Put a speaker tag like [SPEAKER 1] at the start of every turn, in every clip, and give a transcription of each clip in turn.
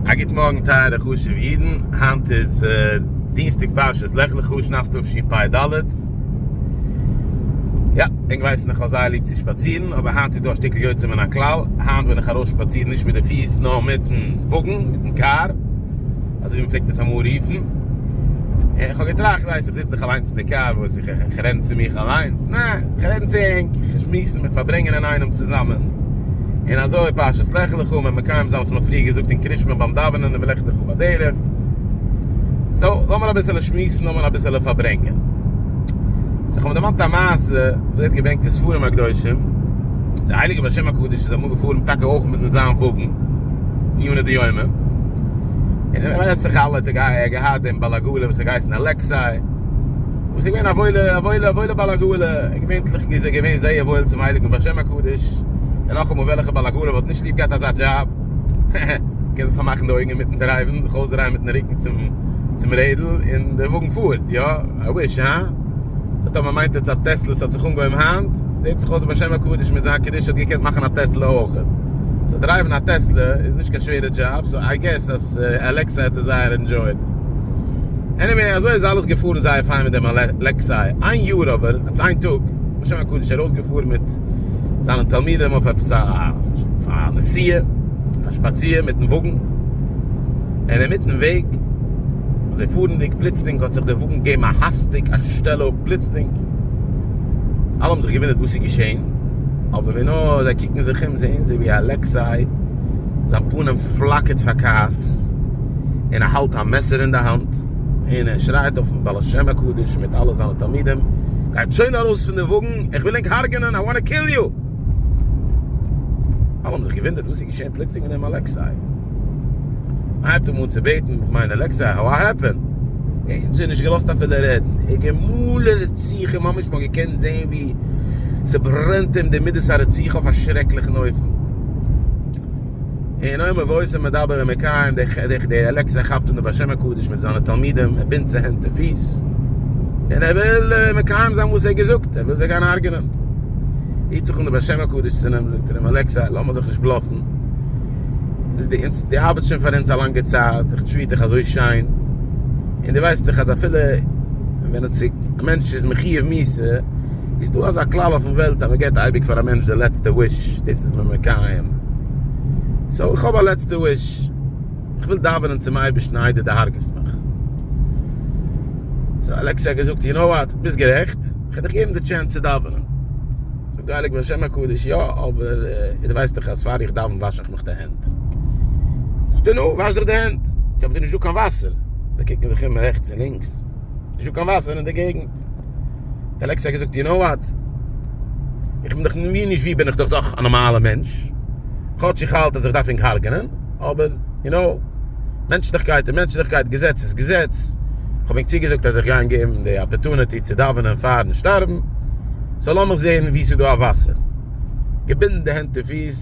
[SPEAKER 1] א גוט מארגן טייערע חשוב'ע אידן, היינט איז דינסטאג פרשת לך לך שנת תשפ ד, יא ענק ווייסן איך האב זייער ליב צו שפאצירן אבער היינט איז דא א שטיקל יוצא מן הכלל, היינט בין איך ארויס שפאצירן נישט מיט די פיס נאר מיטן וואגן, מיטן קאר, אזוי ווי מ'פלעגט עס אמאל רופן, און איך האב געטראכט, ווייסט איך זיץ דאך אליינס אין די קאר, וואס. איך רעדן צו מיך אליינס? נע, איך רעדן צו ענק, איך שמועסן, מיר פארברענגען אינאיינעם צוזאמען, און אזוי פשוט, לך לך אומר מקיים זיין וואס מען האט פריער געזאגט אין קרישמע ביים דאווענען און ולך לך בדרך, סאו לאמיר אביסעלע שמועסן, לאמיר אביסעלע פארברענגען. סאו איך האב מיר דערמאנט א מעשה וואס ווערט געברענגט אין ספרים הקדושים, דער הייליגער בעל שם הקדוש איז אמאל געפארן טאקע אויך מיט זיין וואגן, יונה די יומא, און וועסטעך אלע, ער האט געהאט דעם בעל עגלה וואס האט געהייסן אלעקסיי, וואס איז געווען א וואוילע א וואוילע א וואוילע בעל עגלה, געווענטליך איז ער געווען זייער וואויל צום הייליגן בעל שם הקדוש, און נאכאמאל וועלכע בעל עגלה וואלט נישט ליב געהאט אזא דזשאב, קען זיך פארמאכן די אויגן אינמיטן דרייוון, זיך אויסדרייען מיטן רוקן צום צום רעדל, און דער וואגן פארט, יא, איי וויש, הא? סאו טאמער מיינט עטס אז טעסלעס האט זיך אנגעהויבן היינט, זעט זיך אויס דער בעל שם הקדוש מיט זיין קדושה האט געקענט מאכן א טעסלע אויך, סאו דרייוון א טעסלע איז נישט קיין שווערע דזשאב, סאו איי געס אז אלעקסא האט עס זייער ענדזשויעט. עניוועי אזוי איז אלעס געפארן זייער פיין מיט דעם אלעקסיי איין יאר אבער האט עס איין טאג בשם הקדוש ארויסגעפארן מיט זיינע תלמידים אויף עפעס א נסיעה אויף א שפאציר מיטן וואגן און אינמיטן וועג אזוי פארנדיג פלוצלינג האט זיך דער וואגן געגעבן א האסטיג א שטעל אפ פלוצלינג אלע האבן זיך געוואונדערט וואס איז געשען אבער ווי נאר זיי קוקן זיך אום זעען זיי ווי אלעקסיי זיין פנים פלאקערט פאר כעס. און ער האלט א מעסער אין די האנט, און ער שרייט אויפן בעל שם הקדוש מיט אלע זיינע תלמידים, גייט שוין ארויס פון די וואגן, איך וויל ענק הרג'נען, איי וואנט טו קיל יו! אלע האבן זיך געוואונדערט וואס איז געשען פלוצלינג מיט דעם אלעקסיי, מען הייבט אים אן צו בעטן, מיין אלעקסיי, האו וואט העפענד? ער האט זיי נישט געלאזט אפילו רעדן, ער האט געמאלן רציחה, ממש מען האט געקענט זען ווי ס'ברענט אים די מידות הרציחה אויף א שרעקליכן אופן. אין אויב מבויסער מדבר און מקיים די די אלעקס ער כאפט אן די בשם הקדוש מיט זיינע תלמידים ער בינדט זיי הענט און פיס און ער וויל מקיים זיין וואס ער געזאגט ער וויל זיי גיין הארגענען היט זיך אן די בשם הקדוש צו נעם זאגט אים אלעקס לאמער זיך נישט בלאפן איז די אונז די ארבעט שוין פאר אונז א לאנגע צייט איך טריט דיך אזוי שיין און די ווייסט איך אז אפילו ווען עס איז א מענטש איז מחיוב מיתה איז דא אזא כלל אויפן וועלט אז מען געבט אייביג פאר א מענטש די לעצטע וויש, דאס איז מען מקיים, סאו איך האב א לעצטע וויש, איך וויל דאווענען צום אייבערשטן איי דו דערהרגעסט מיך. סאו אלעקסיי האט געזאגט, יו נאו וואט, ביסט גערעכט, איך וועל דיך געבן די טשענס צו דאווענען. זאגט די הייליגע בעל שם הקדוש, יא, אבער דו ווייסט דאך אז פאר איך דאווען וואש איך מיך די הענט. זאגט ער, נו, וואש דיך די הענט. אבער דא איז נישטא קיין וואסער. זיי קוקן זיך אום רעכטס און לינקס, נישטא קיין וואסער אין די געגנט. געזאגט? האט אלעקסיי געזאגט, יו נאו וואט? איך בין דאך ווי נישט ווי בין איך דאך דאך א נארמאלער מענטש, כאטש איך האלט אז איך דארף ענק הרג'נען, אבער יו נאו, מענטשליכקייט איז מענטשליכקייט, געזעץ איז געזעץ, איך האב ענק צוגעזאגט אז איך גיי ענק געבן די אפערטוניטי צו דאווענען פארן שטארבן, סאו לאמיך זען ווי ס'איז דא א וואסער. געבינדן די הענט און פיס.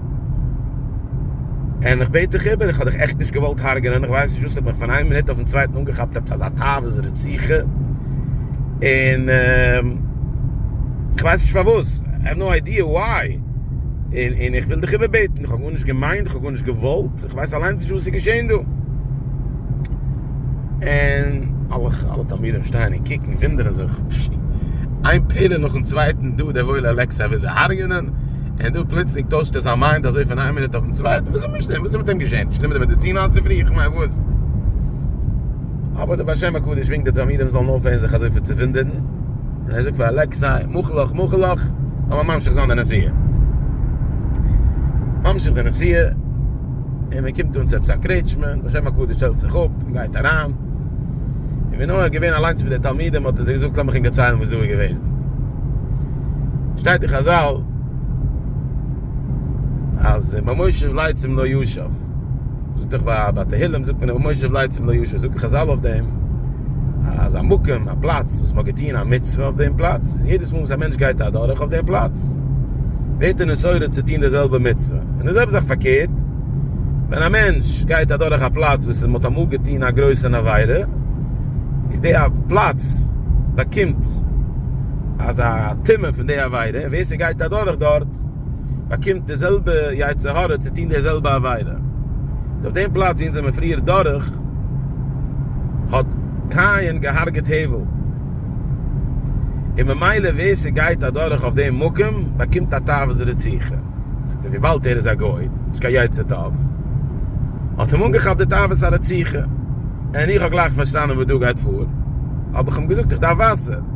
[SPEAKER 1] און איך בעט דיך איבער, איך האב דיך עכט נישט געוואלט הרג'נען, איך ווייס נישט וואס האט מיך פון איין מינוט אויפן צווייטן אנגעכאפט עפעס אזא תאוות רציחה, און איך ווייס נישט פארוואס, I have no idea why, און איך וויל דיך איבער בעטן, איך האב גארנישט געמיינט, איך האב גארנישט געוואלט, איך ווייס אליינס נישט וואס איז געשען דא. און אלע תלמידים שטייען און קוקן, וואונדערן זיך, איין פעלער נאכן צווייטן דא, דער וואוילער אלעקסיי וויל זיי הרג'נען, און דא פלוצלינג טוישט ער זיין מיינד אזוי פון איין מינוט אויפן צווייטן, וואס איז מיט דעם, וואס איז מיט אים געשען, נישט גענומען די מעדיצין היינט צופרי, איך מיין וואס. אבער דער בעל שם הקדוש ווינקט די תלמידים זאלן אויפהערן זיך אזויפיל צו וואונדערן, און ער זאגט פאר אלעקסיי, מאך לאך מאך לאך, לאמיר ממשיך זיין די נסיעה. ממשיך די נסיעה, און מען קומט אן צו עפעס א קרעטשמע, בעל שם הקדוש שטעלט זיך אפ, און גייט אריין, און ווי נאר ער איז געווען אליינס מיט די תלמידים האט ער זיי געזאגט, לאמיך ענק דערציילן וואס דא איז געוועזן. שטייט אין חזל אז מר מושב לייצים לא יושב זאגט דאך ביי ביי תהלים זאגט מען מר מושב לייצים לא יושב זאגן חזל אויף דעם אז א מקום א פלאץ וואס מ'האט געטוהן א מצוה אויף דעם פלאץ איז יעדעס מאל וואס א מענטש גייט אדורך אויף דעם פלאץ ווערט ער נשאר צו טוהן די זעלבע מצוה און די זעלבע זאך פארקערט ווען א מענטש גייט אדורך א פלאץ וואס מ'האט אמאל געטוהן א גרויסע עבירה איז די א פלאץ באקומט אז א טמא פון די עבירה, און ווער ס'גייט אדורך דארט באקומט די זעלבע יצר הרע צו טון די זעלבע עבירה, איז אויף דעם פלאץ ווי אונז זעמיר פריער דורך, האט קין געהארגעט הבל, און ממילא ווער ס'גייט אדורך אויף דעם מקום באקומט א תאוות רציחה, זאגט ער וויבאלד ער איז א גוי, נישט קיין יצר טוב, האט אים אנגעכאפט די תאוות הרציחה, און איך האב גלייך פארשטאנען וואס דא גייט פאר, האב איך אים געזאגט איך דארף וואסער.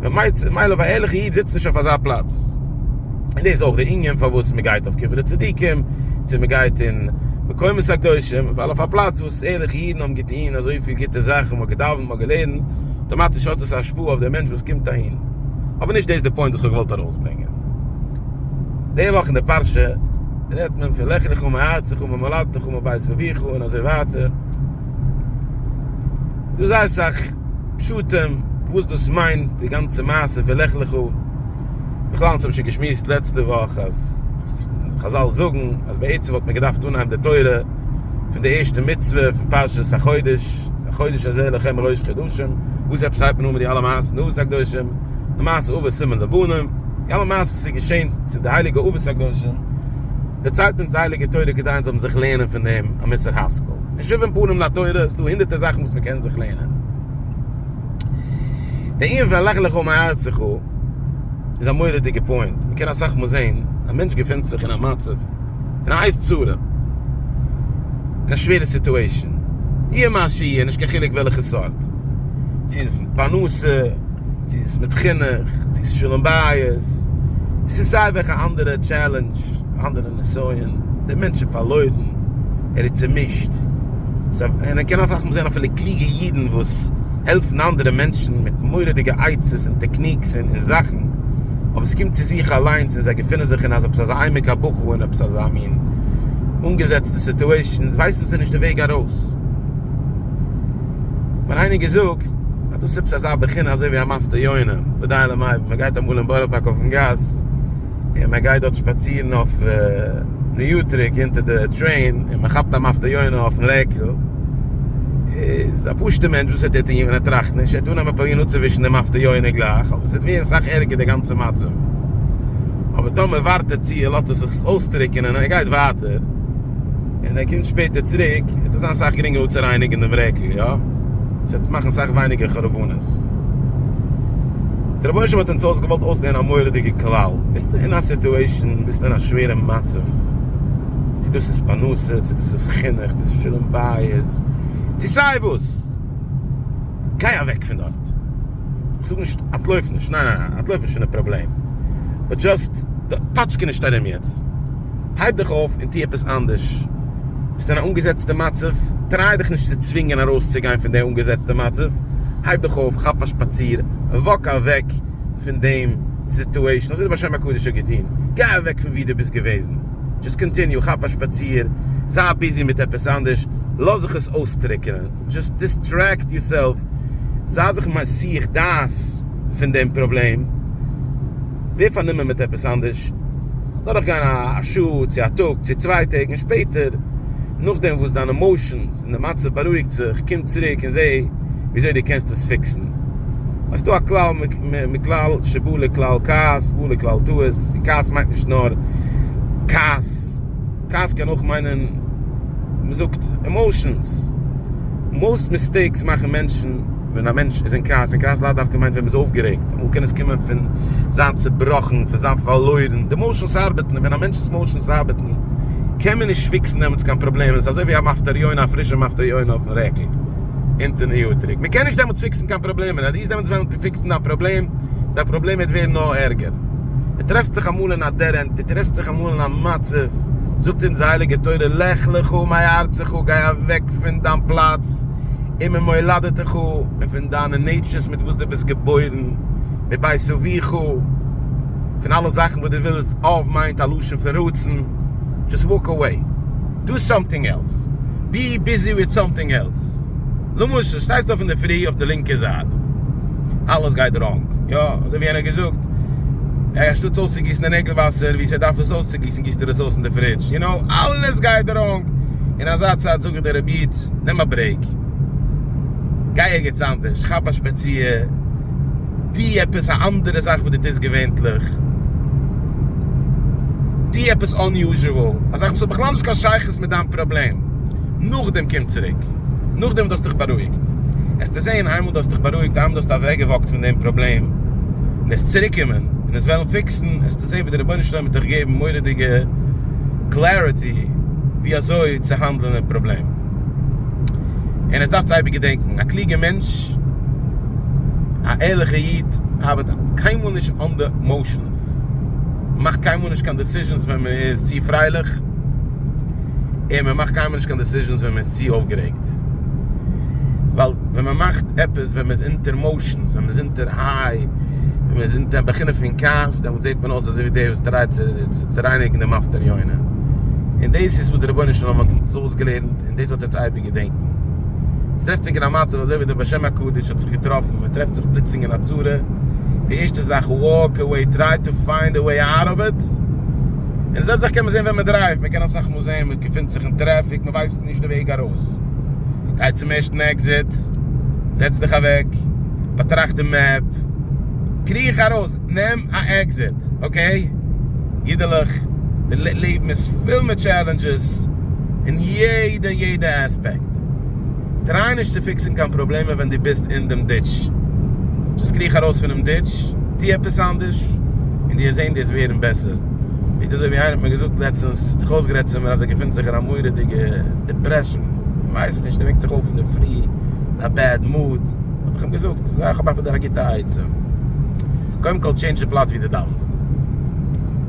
[SPEAKER 1] ממילא ממילא א ערליכע איד זיצט נישט אויף אזא פלאץ, און דאס איז אויך די ענין פארוואס מען גייט אויף קברי צדיקים, צו מען גייט אין מקומות הקדושים, ווייל אויף א פלאץ וואס ערליכע אידן האבן געטון אזויפיל גוטע זאכן, מען האט געדאווענט, מען האט געלערנט, אויטאמאטיש האט עס א השפעה אויף די מענטש וואס קומט אהין, אבער נישט דאס איז די פוינט וואס איך האב געוואלט ארויסברענגען. די וואך אין די פרשה רעדט מען פון לך לך מארצך וממולדתך ומבית אביך און אזוי ווייטער, דא איז זייער אסאך. פשטים וואס דאס מיינט די גאנצע מעשה פון לך לך, בכלל אונז האבן שוין געשמועסט לעצטע וואך אז חזל זאגן אז בעצם וואלט מען געדארפט אנהייבן די תורה פון די ערשטע מצוה פון פרשת החודש, החודש הזה לכם ראש חדשים, וואס עפעס הייבט מען אן מיט די אלע מעשיות פון אבות הקדושים, למעשה אבות סימן לבנים, די אלע מעשיות וואס איז געשען צו די הייליגע אבות הקדושים, דערציילט אונז די הייליגע תורה כדי אונז זאלן זיך לערנען פון דעם א מוסר השכל. אין שבעים פנים לתורה איז דא הונדערטער זאכן וואס מען קען זיך לערנען. דער ענין פון לך לך מארצך איז א מורא'דיגע פוינט. מען קען אסאך מאל זען א מענטש געפינט זיך אין א מצב, אין א הייס צרה, אין א שווערע סיטועישאן, יהיה מה שיהיה, נישט קיין חילוק וועלכע סארט, צו איז פרנסה, צו ס'איז מיט חינוך, צו ס'איז שלום בית, צו ס'איז סיי וועלכע אנדערע טשעלענדזש, אנדערע נסיון, דער מענטש איז פארלוירן, ער איז צומישט. און ער קען אויף זען אפילו קלוגע אידן וואס העלפן אנדערע מענטשן מיט מורא'דיגע עצות און טעקניקס און זאכן, אבער ס'קומט צו זיך אליינס און זיי געפינען זיך אין עפעס אזא עמק הבכא און עפעס אזא מין אנגעזעצטע סיטועשאן, ווייסן זיי נישט די וועג ארויס. ווען איינער געזאגט אז דאס איז עפעס אזא בחינה אזוי ווי א מפטיר יונה ודי למאי ווען מען גייט אמאל אין בארא פארק אויפן גאס און מען גייט דארט שפאצירן אויף ניו טריק אונטער די טרעין און מען כאפט א מפטיר יונה אויפן רעקל איז א פשוטע מענטש וואס וועט ער טון ווען ער טראכט נישט ער וועט אנהייבן פרובירן אפצווישן די מפטיר יונה גלייך אבער עס וועט ווערן סאך ערגער די גאנצע מצב אבער טאמער ווארט ער צו ער לאזט עס זיך אויסטריקענען און ער גייט ווייטער. און ער קומט שפעטער צוריק וועט עס זיין סאך גרינגער אפצורייניגן דעם רעקל יא? עס וועט מאכן סאך ווייניגער חרבנות. דער רבונו של עולם האט אונז אויס געוואלט אויסלערנען א מורא'דיגע כלל, ביסטו אין א סיטועישאן, ביסטו אין א שווערע מצב, צו דאס איז פרנסה, צו דאס איז חינוך, צו דאס איז שלום בית, צו סיי וואס, גיי אוועק פון דארט, איך זאג נישט אנטלויף נישט, ניין ניין ניין, אנטלויף נישט פון די פראבלעם, באט דזשאסט פאטשקע נישט ארום יעצט. הייב דיך אויף און טו עפעס אנדערש. ביסט אין א אנגעזעצטע מצב, טריי דיך נישט צו צווינגען ארויסצוגיין פון די אנגעזעצטע מצב, הייב דיך אויף, כאפ א שפאציר, וואק אוועק פון דעם סיטועשן, אזוי האט דער בעל שם הקדוש ע געטון, גיי אוועק פון וואו דו ביסט געוועזן, דזשאסט קאנטיניו, כאפ א שפאציר, זיי ביזי מיט עפעס אנדערש, לאז זיך עס אויסטרוקענען, דזשאסט דיסטרעקט יורסעלף, זיי זיך מסיח דעת פון דעם פראבלעם. ווער פארנומען מיט עפעס אנדערש, דורך גיין א שעה צו א טאג צו צוויי טעג און שפעטער נאכדעם וואס דיין עמאושענס און די מצב בארואיגט זיך קום צוריק און זע וויאזוי דו קענסט עס פיקסן. עס איז דא א כלל מכלל שבא לכלל כעס בא לכלל טעות און כעס מיינט נישט נאר כעס, כעס קען אויך מיינען מען זאגט עמאושענס, מאוסט מיסטעיקס מאכן מענטשן. ווען א מענטש איז אין כעס, און כעס לאו דווקא מיינט ווען מ'איז אויפגערעגט, אמאל קען עס קומען פון זיין צעבראכן, פון זיין פארלוירן, די מאושענס ארבעטן, און ווען א מענטש'ס מאושענס ארבעטן, קען מען נישט פיקסן דעמאלטס קיין פראבלעם, עס איז אזוי ווי א מפטר יונה, א פרישע מפטר יונה אויפן רעקל, אונטערן איוטריק, מען קען נישט דעמאלטס פיקסן קיין פראבלעמען, אז דו וועסט דעמאלטס וועלן פיקסן דיין פראבלעם, דיין פראבלעם וועט ווערן נאר ערגער. דו טרעפסט דיך אמאל אין א דעד ענד, דו טרעפסט דיך אמאל אין א מצב, זאגט אונז די הייליגע תורה, לך לך מארצך, גיי אוועק פון דיין פלאץ, און ממולדתך, און פון דיינע נעיטשערס מיט וואס דו ביסט געבוירן, מבית אביך, פון אלע זאכן וואס דו ווילסט, אב מיינט א לשון פון רצון, דזשאסט וואק אוועי, דו סאמטינג עלס, בי ביזי וויט סאמטינג עלס, למשל שטייסטו אויף אינדערפרי אויף די לינקע זייט, אלעס גייט ראנג, יא, אזוי ווי איינער האט געזאגט, אנשטאטס אויסצוגיסן די נעגל וואסער ווי ס'דארף עס אויסצוגיסן גיסט ער עס אויס אין די פרידזש, יו נאו, אלעס גייט ראנג, און אזא צייט זאג איך. זאגט דער רבי איד, נעם א ברעיק, גיי ערגעץ אנדערש, כאפ א שפאציר, טו עפעס א אנדערע זאך וואס דו טוסט געווענטליך, טו עפעס אנ-יוזשעוועל, א זאך וואס האט בכלל נישט קיין שייכות מיט דיין פראבלעם, נאכדעם קום צוריק, נאכדעם וואס דו האסט דיך בארואיגט, עסטו זען, איינמאל דו האסט דיך בארואיגט, איינמאל דו האסט אוועקגעוואקט פון דעם פראבלעם, און עסט צוריקקומען און עס וועלן פיקסן, זעה ווי דער רבונו של עולם וועט דיך געבן מורא'דיגע קלעריטי ווי אזוי צו האנדלען דעם פראבלעם. און עטס דארפטס אייביג געדענקן, א קלוגע מענטש, א ערליכע איד, האבעט קיינמאל נישט אנדער מאושענס, מאכט קיינמאל נישט קיין דעסיזשענס ווען מען איז צו פרייליך, און מען מאכט קיינמאל נישט קיין דעסיזשענס ווען מען איז צו אויפגערעגט, ווייל ווען מען מאכט עפעס ווען מען איז אונטער מאושענס, ווען מען איז אונטער. דער היי ווען מען איז אין די בחינה פון כעס דעמאלט זעט מען אויס אזוי ווי דער וואס טרייט צו צורייניגן דעם מפטר יונה און דאס איז וואס דער רבונו של עולם האט אונז אויסגעלערנט און דאס וועט אונז אייביג געדענקען. עס טרעפט זיך אין א מצב אזוי ווי דער בעל שם הקדוש האט זיך געטראפן, מען טרעפט זיך פלוצלינג אין א צרה, די ערשטע זאך וואלק אוועי, טריי טו פיינד א וועי אוט אוו איט, און די זעלבע זאך קען מען זען ווען מען דרייווט, מען קען אסאך מאל זען מען געפינט זיך אין טרעפיק, מען ווייסט נישט די וועג ארויס, גיי צום ערשטן עקזיט, זעץ דיך אוועק. באטראכט די מעפ, קריך ארויס, נעם א עקזיט, אקעי? אידעלעך, די לעבן איז פול מיט טשעלענדזשעס אין יעדע יעדע עספעקט, טריי נישט צו פיקסן קיין פראבלעמען ווען דו ביסט אין דעם דיטש, דזשאסט קריך ארויס פונעם דיטש, טו עפעס אנדערש, און דו וועסט זען דו וועסט ווערן בעסער. פונקט אזוי ווי איינער האט מיר געזאגט לעצטענס, האט זיך אויסגערעדט צו מיר אז ער געפינט זיך אין א מורא'דיגע דיפרעשאן, ער ווייסט נישט, ער וועקט זיך אויף אינדערפרי אין א בעד מוד, האב איך אים געזאגט, זע איך האב אפילו דיר א גוטע עצה, קודם כל טשעינדזש די פלאץ ווי דו דאווענסט,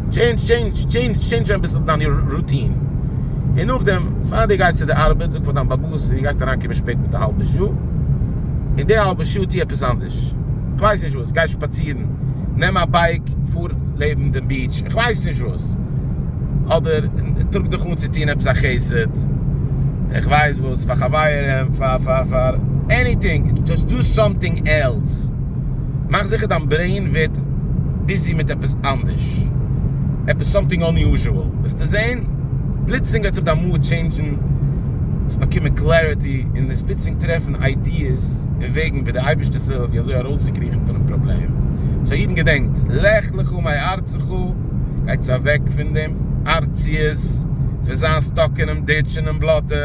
[SPEAKER 1] טשעינדזש טשעינדזש טשעינדזש טשעינדזש אביסל דיין רוטין, און נאכדעם פאר דו גייסט צו די ארבעט זאג פאר דיין באבוס אז דו גייסט אריינקומען שפעט מיט א האלבע שעה, און די האלבע שעה טו עפעס אנדערש, כ'ווייס נישט וואס, גיי שפאצירן, נעם א בייק, פאר לעבן דעם ביעטש, כ'ווייס נישט וואס. עפעס, אדער טראג דיך אן צו טון עפעס א חסד, איך ווייס וואס, פאר חברים, פאר עניטינג, דזשאסט דא סאמטינג עלס, מאך זיכער דיין ברעין ווערט ביזי מיט עפעס אנדערש, עפעס סאמטינג אנ'יוזשועל, וועסטו זען פלוצלינג וועט זיך דיין מוד טשעינדזשן, וועסט באקומען קלעריטי, און וועסט פלוצלינג טרעפן איידיעס און וועגן ווי דער אייבערשטער ס'וויל ווי אזוי ארויסצוקריכן פונעם פראבלעם, סאו אידן געדענקטס, לך לך מאי ערתיך. זכו, גייטס אוועק פון דעם ארציות, פון זיין סטאק אינעם דיטש אינעם בלאטע,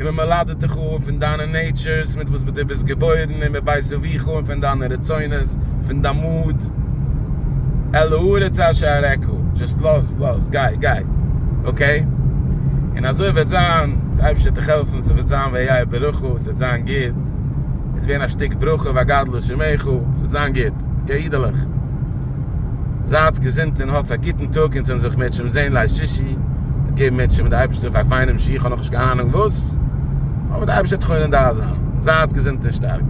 [SPEAKER 1] און מען מלד'ט דיך אן פון דיינע נעיטשורס מיט וואס דו ביסט געבוירן און מבית אביך און פון דיינע רצונות, פון דיין מאד, אל הארץ אשר אראך, דזשאסט לאז, לאז, גיי, גיי, אקעי? און אזוי וועט זיין, דער אייבערשטער וועט דיך העלפן, ס'וועט זיין ויהיה ברכה, ס'וועט זיין גוט, עס ווערן א שטיק ברכה וגדלו שמך, ס'וועט זיין גוט, אקעי אידעלעך? זייטס געזונט און האטס א גוטן טאג אונז וועלן זיך מער נישט זען ליל שישי, געבן מיר צו מיט די אייבערשטער פאר פיינעם שיעור כ'האב נאכנישט קיין אהנונג וואס, אבער די אייבערשטער וועט חונן דעת זיין, זייטס געזונט און שטארק.